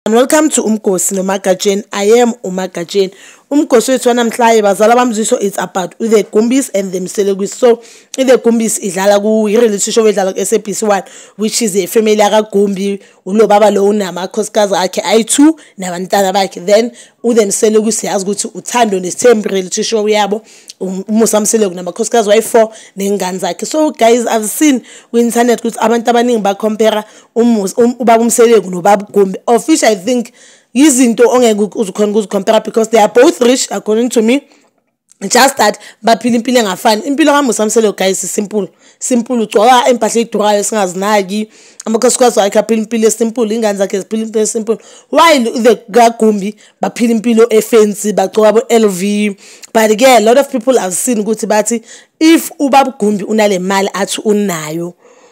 And welcome to Umgosi no Magajeni. I am Umagajeni. Umgosi wethu wanamhlanje bazala bamziso it's about the Gumbis and the Mselekwis. So the Gumbis idlala ku reality show edlala ku SABC 1 which is a family aka Gumbi ulo baba lo unama khosikazi akhe ayi2 nabantana bakhe. Then uthe mseleku siyazi ukuthi uthando nesithembu reality show yabo um, umusa mseleku namakhosikazi wayi-four ney'ngane zakhe so guys i've seen kwi-internet ukuthi abantu abaningi bacompera um, ubaba umseleku nobaba ugumbi of which i think yizinto ongeke uzikhona ukuzikhompera because they are both rich according to me just that baphila impilo engafani impilo kamusa mselo guys simple simple ugcoka empahla edurayo esingazinaki amakhosikazi wakhe aphila impilo esimple ingane zakhe ziphila impilo esimple while the kagumbi baphila impilo efensi bagcoka bo-l v but ke a lot of people have seen ukuthi bathi if ubabugumbi unale mali athi unayo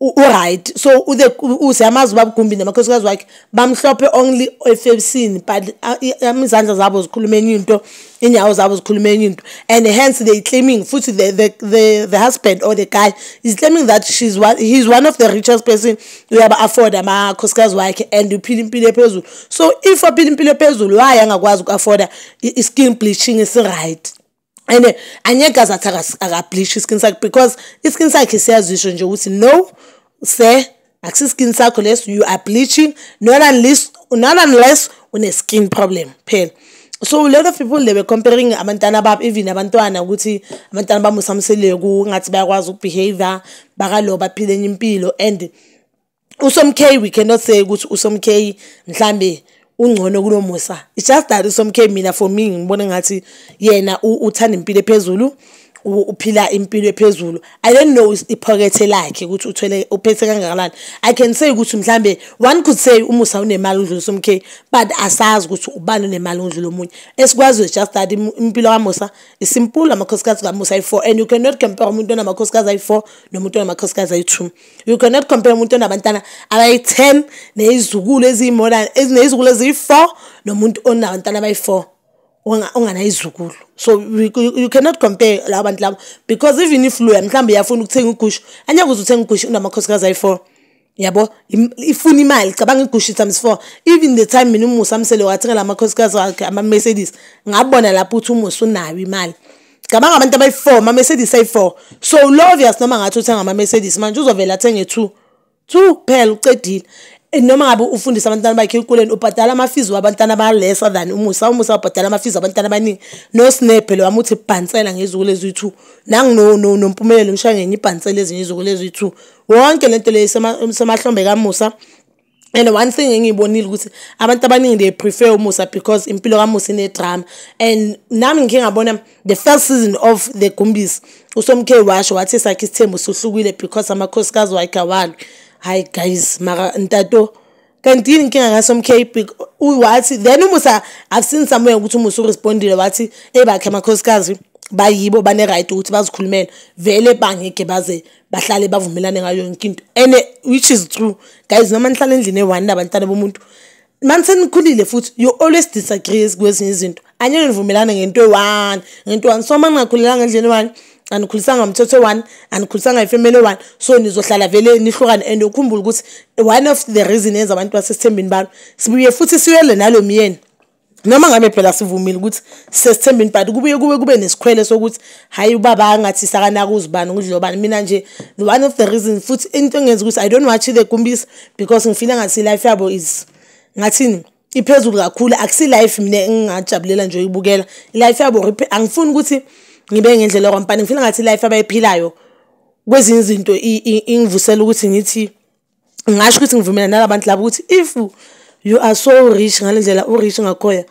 uright so usiyamazi uba bugumbi namakhosikazi wakhe bamhlophe only efebisini but izandla zabo zikhuluma enye into inyawo zabo zikhuluma enye into and hence they claiming futhi the, the, the, the husband or the guy is claiming that she's one, he's one of the richest person uyaba-afford amakhosikazi wakhe and uphila impilo ephezulu so if aphila impilo ephezulu waye angakwazi uku-afforda i-skin bleaching esiright and angeke aze athi akableach iskin sakhe because iskin sakhe siyazisho nje ukuthi no sir akusiskin sakho lesi you are bleaching not unless not unless une-skin problem phela so a lot of people they were comparing abantwana babo even abantwana ukuthi abantwana bamusamseleku ngathi bayakwazi ukubehavior bakalo baphile enye impilo and usomkheyi we cannot say ukuthi usomkheyi mhlambe ungcono kunomusa it's just that usomkheyi mina for me ngibona ngathi yena uthanda impilo ephezulu uphila impilo ephezulu i don't know iphokethe lakhe ukuthi uthwele uphethe kangakanani i can say ukuthi mhlambe one could say umusa unemali udlula somkhe but asazi ukuthi ubani unemali udlula omunye esikwaziyo just that impilo kamusa isimpulo amakhosikazi kamusa ayi-four and you cannot compare umuntu onamakhosikazi ayi-four nomuntu onamakhosikazi ayi-two you cannot compare umuntu onabantwana abayi-ten neyizukulu eziyimora neyizukulu eziyi-four nomuntu onabantwana abayi-four onganayizukulu so you cannot compare laba bantu labo because even if loya mhlawumbe uyafuna ukuthenga ugushu angeke uze uthenge ugushu unamakhosikazi ayi-four yabo ifuna imali cabanga igushu times four even the time mina umusa amsele wathengela amakhosikazi wakhe ama-mercedes ngabona lapho ukuthi umusa unayo imali cabanga abantu abayi-four ama-mercedes ayi-four so ulovius noma ngathi uthenga ama-mercedes manje uzovele athenge two two kuphela ucedile eh, noma ngabe ufundisa abantwana bakhe ekuleni ubhadala amafizi wabantwana balesa than umusa umusa ubhadala amafizi wabantwana abaningi nosnebhe lo wamuthi bhansela ngezuku leziyi-two nanginompumelelo and one thing engiyibonile ukuthi abantu abaningi they prefer umusa because impilo kamusa inedrama and nami ngikhe ngabona the first season of the gumbisi usomkhe washo wathi sakhe isithembu suhlukile because amakhosikazi wakhe awalwi hayi guys maka ntato kanti yini inkinga kasomkhe wathi then umusa i've seen somewhere ukuthi umusa urespondile wathi eyibakhe amakhosikazi bayibo bane-right ukuthi bazikhulumele vele bangeke baze bahlale bavumelane ngayo yonke into and which is true guys noma nihlala endlini eyi-one nabantwana bomuntu mani senikhulile futhi you always disagree kwezinye izinto anyeke nivumelane ngento eyi-one ngento one so uma ningakhulelanga endlini eyi-one anikhulisanga mthetho one anikhulisanga ifemeli one so nizohlala vele nihlukane and ukhumbula ukuthi one of the reason yenza abantu basesithembeni balo sibuye futhi siyole nalo myeni noma ngabe phela sivumile ukuthi sesithembini but kubuye kube kube nesikhwele sokuthi hayi ubaba angathi sakanaka uzibani ngudlobani mina nje the one of the reason futhi into engenza ukuthi i don't watch the gumbisa because ngifile ngathi life yabo is ngathini iphezulu kakhulu akusi life mina engingajabulela nje uyibukela life yabo angifuni ukuthi ngibe ngendlela kwampani ngifile ngathi life abayiphilayo kwezinye izinto ingivusela ukuthi ngithi ngasho ukuthi ngivumelana nalabantu laba ukuthi if you are so rich ngale ndlela u-rich ngakhoya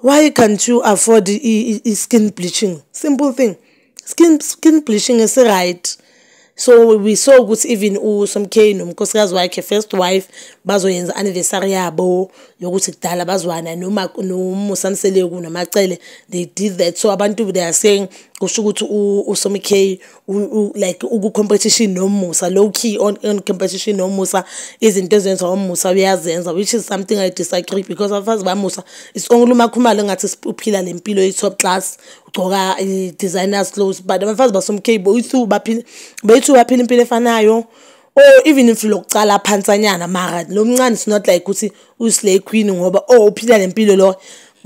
why can't you afford i-skin bleaching simple thing skin, skin bleaching esi-right so we saw ukuthi even usomkay nomkhosikazi wakhe first wife bazoyenza anniversary yabo yokuthi kudala bazwana noma nomusamseleku namacele they did that so abantu they are saying kusho ukuthi usomkay like uku-competition nomusa low key on, on competition nomusa izinto ezenziwa umusa uyazenza which is something i disagree because abafazi bamusa it's only uma khumalo ngathi uphila le mpilo i-top class ugcoka i-designers clothes but abafazi basomcable bethu baphila impilo efanayo oh even if lokucala phansanyana mara lo mncane is not like ukuthi uyislay queen ngoba oh uphila le mpilo lo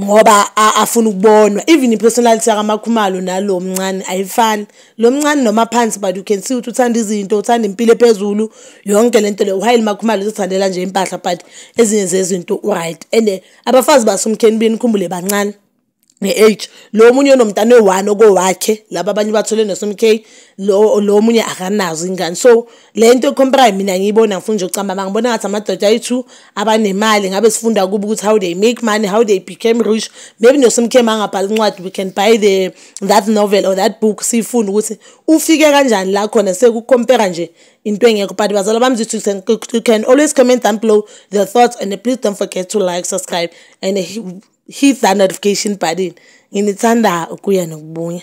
ngoba afuna ukubonwa even ipersonality yakamakhumalo nalo mncane ayifani lo mncane noma phansi but you can see ukuthi uthanda izinto uthanda impilo ephezulu yonke lento le uhayile makhumalo uzithandela nje impahla but ezinye zezinto uright and abafazi basumkheni beni khumbule bancane nge-age lo omunye onomntana oyi-one okowakhe laba abanye bathole ne-sm k lo omunye akanazo ingane so le nto ecomparayo mina ngiyibona ngifuna nje ukucamba ma ngibona ngathi amadoda ayi-two abanemali ngabe sifunda kubo ukuthi how they make money how they became rich maybe no-sm k mangabhala incwadi we can buy the that novel or that book siyifunda ukuthi ufike kanjani la khona sekukompera nje into engekho but bazala bami you can always comment down below your thoughts and please don't forget to like subscribe and hit that notification button nginithanda ukuya nokubuya